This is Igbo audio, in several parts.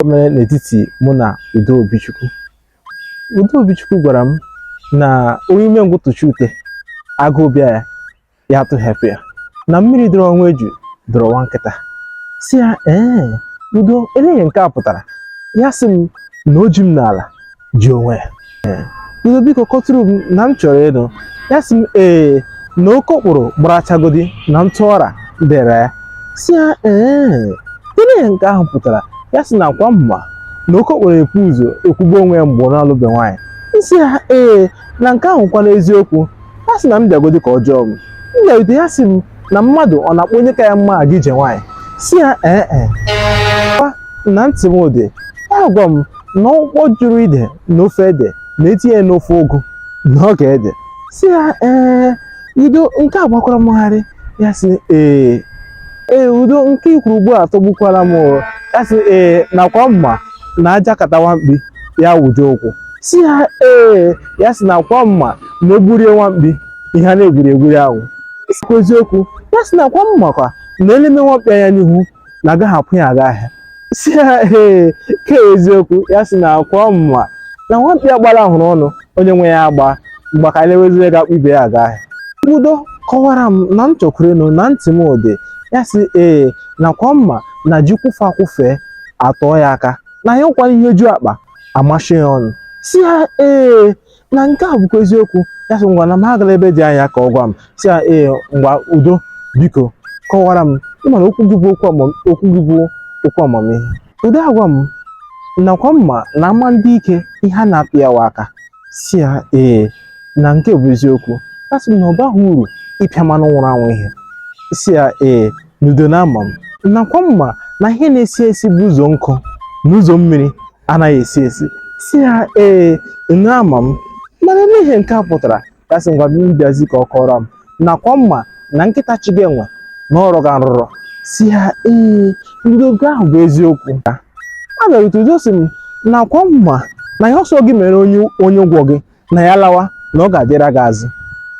o mere n'etiti mụ na Udo Obichukwu Udo Obichukwu gwara m na onye umengwụ tụchie ute agụụ bịa ya ya atụghepụ ya na mmiri dọrọ na nwa eju dọrọ nwa nkịta sị ya ee Udo elee ihe nke a pụtara ya sị m na o ji m n'ala ji onwe ya Udo biko kọtụrụ m na m chọrọ ịnụ ya sị m ee na okokporo gbarachagodi na ntụ ọra dere ya sị ya elee ihe nke ahụ pụtara ya sị na ọ kwa m ma na okokporo ekwu ụzọ ekwugbo onwe ya mgbe ọ na-alụbe nwaanyị m sị ya ee na nke ahụ kwana eziokwu ya sị na m bịagodi ka ọ jụọ m m bịarutere ya sị m na mmadụ ọ na-akpọ onye ka ya mma aga ije nwaanyị sị ya ee e kwa na ntị m dị ya gwa m na ụkpọ jụrụ ide n'ofe ede na e tinye ya n'ofe ụgụ na ọ ga-ede sị ya ee Udo nke a gbakwara m gharị ya sị ee ee Udo nke i kwuru ugbu a tọgbukwara m o ya sị ee na ọ kwa m ma na a jakata nwa mkpi ya wụjie ụkwụ sị ya ee ya sị na ọ kwa m ma na e gburie nwa mkpi ihe a na-egburi egburi ahụ sịkwa eziokwu ya sị na ọ kwa m makwa na e leme nwa mkpi anya n'ihu na agaghị akpụ ya aga ahịa sị ya ee ka eziokwu ya sị na ọ kwa mụ ma na nwa mkpi gbara ahụrụ ọnụ onye nwe ya agbaa mgbe ka e lewezie onye ga-akpụ ibe ya aga ahịa Udo kọwara m na m chọkwuru ịnụ na ntị m dị ya sị ee na ọ kwa m ma na ji kwụfe akwụfe atọọ ya aka na ya bụkwa ihe ju akpa amachie ya ọnụ sị ya ee na nke a bụkwa eziokwu ya sị ngwa na m agala ebe dị anya ka ọ gwa m sị ya ee ngwa Udo biko kọwara m ị ma na okwu gị bụ okwu amam- okwu gị bụ okwu amamihe Udo agwa m na ọ kwa m ma na ama ndị ike ihe a na-apị ya wa aka sị ya ee na nke a bụ eziokwu ya sị m na ọ baghị uru ịpịa mmadụ nwụrụ anwụ ihe sị ya ee Udo na ama m na ọ kwa m ma na ihe na-esi esi bụ ụzọ nkụ na ụzọ mmiri anaghị esi esi sị ya ee na ama m mana ihe nke a pụtara ya sị ngwa bịa bịazi ka ọ kọrọ m na ọ kwa m ma na nkịta chụga enwe na ọ rọga nrụrọ sị ya ee Udo nke ahụ bụ eziokwu a bịarute Udo sị m na ọ kwa m ma na ihe ọ sọ gị mere onye ụgwọ gị na ya lawa na ọ ga-adịra gị azụ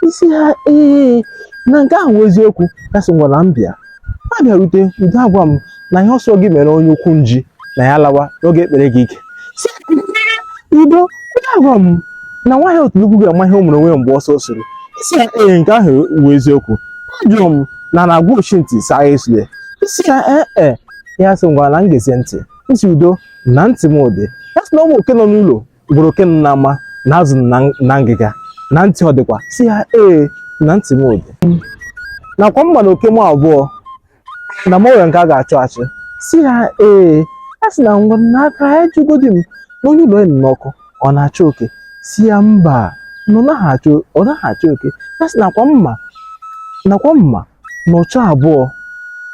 m sị ya ee na nke ahụ bụ eziokwu ya sị ngwa na m bịa m abịarute Udo agwa m na ihe ọ sọ gị mere onye ukwu nji na ya lawa na ọ ga-ekpere gị ike sị Udo Udo agwa m na nwaanyị otule ukwu ga-ama ihe o mere onwe ya mgbe ọsọ suru m sị ya ee nke ahụ bụ eziokwu ajụrụ m na a na-agwa ochi ntị sị agha esule m sị ya ee ee ya sị ngwara na m gezie ntị m sị Udo na ntị m dị ya sị na ọ bụ oke nọ n'ụlọ gwara oke nọ n'ama na azụ na ngịga na ntị ọ dịkwa sị ya ee na ntị m ọ dị nakwa mma na oke m abụọ na m nwere nke a ga-achụ achụ sị ya ee ya sị na ngwanụ ka ya jụgodi m na onye ụlọ enyi n'ọkụ ọ na-achụ oke sị ya mba na ọ naghị achụ oke ya sị nakwa mma nakwa mma na ọchọ abụọ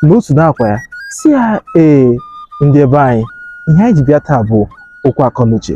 na otu na-akwa ya sị ya ee ndị ebe anyị ihe anyị ji bịa taa bụ okwu akọnuche